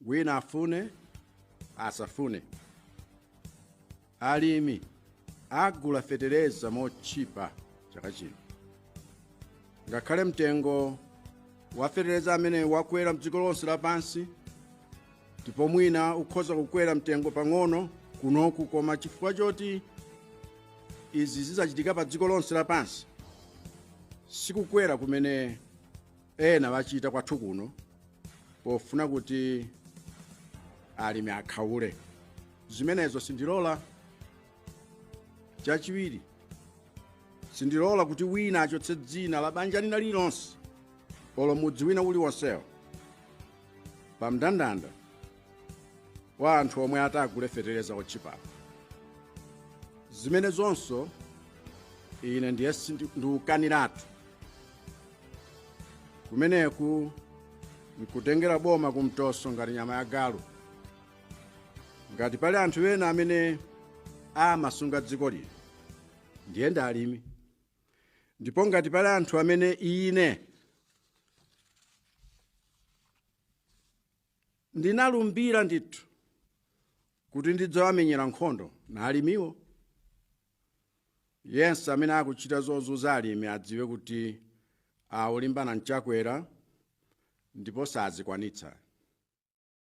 wina afune asafune alimi agula fetereza motchipa chaka chino ngakhale mtengo wa fetereza amene wakwera mdziko lonse lapansi ndipo mwina ukhoza kukwera mtengo pang'ono kunoku koma chifukwa choti izi zizachitika pa dziko lonse lapansi sikukwera kumene ena achita kwathu kuno pofuna kuti alimi akhaule zimenezo sindilola chachiwiri sindilola kuti wina achotse dzina la banja lina lilonse olo mudzi wina uliwonsewo pa mndandanda wa anthu omwe atagule fetereza otchipapo zimenezonso ine ndiye sindi- ndikukaniratu kumeneku nkutengera boma kumtoso ngati nyama ya galu ngati pali anthu ena amene amasunga dziko lino ndiye ndi alimi ndipo ngati pali anthu amene ine ndinalumbira ndithu kuti ndidzawamenyera nkhondo na alimiwo yense amene akuchita zozunza alimi adziwe kuti akulimbana ndi Chakwera ndipo sazikwanitsa